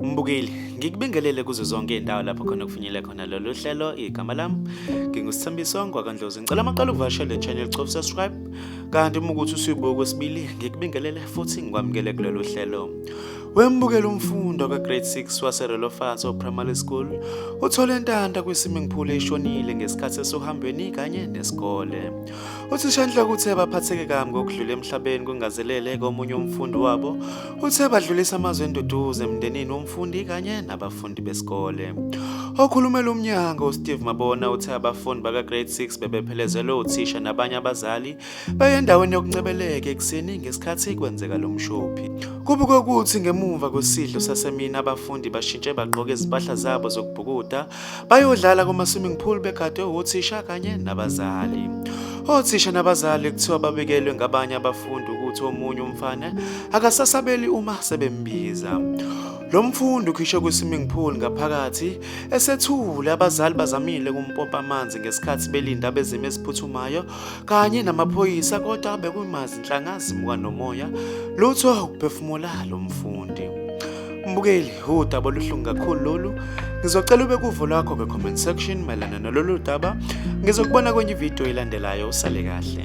Mbukeli ngikubingelele kuzo zonke indawo lapho khona kufinyele khona lolu hlelo igama lami ngingusithambiso ngwakandlozi ngicela amaqala ukuvakashela le-channel cof subscribe kanti uma ukuthi usuyibuka kwesibili ngikubingelele futhi ngikwamukele kulolu hlelo wembukela umfundo kagrade 6 waserelofaso primary school uthole intanda kwisimiphule ishonile ngesikhathi esohambweni kanye nesikole Uthishanhloko uthe baphatheke kabi ngokudlula emhlabeni kungazelele komunye umfundi wabo. Uthe badlulisa amazwi enduduzo emndenini womfundi kanye nabafundi besikole. Okhulumela umnyango uSteve Mabona uthe abafundi baka-grade 6 bebephelezelwe uthisha nabanye abazali beyendaweni yokuncebeleka ekuseni ngesikhathi kwenzeka lo mshophi. Kubukwe ukuthi ngemuva kwesidlo sasemini abafundi bashintshe bagqoke izimpahla zabo zokubhukuda Bayodlala kuma-swimming pool begadwe wothisha kanye nabazali. Othisha nabazali kuthiwa babekelwe ngabanye abafundi ukuthi omunye umfana akasasabeli uma sebembiza. Lo mfundi ukhishwe kwi-swimming pool ngaphakathi esethule abazali bazamile kumpompa amanzi ngesikhathi belinda abezimo eziphuthumayo kanye namaphoyisa kodwa bekumazi nhlangazi muka nomoya lutho ukuphefumula lo mfundi mbukeli udaba oluhlungu kakhulu lolu ngizocela ube kuvo lwakho kwe-comment section mayelana nalolu daba ngizokubona kwenye ividiyo elandelayo usale kahle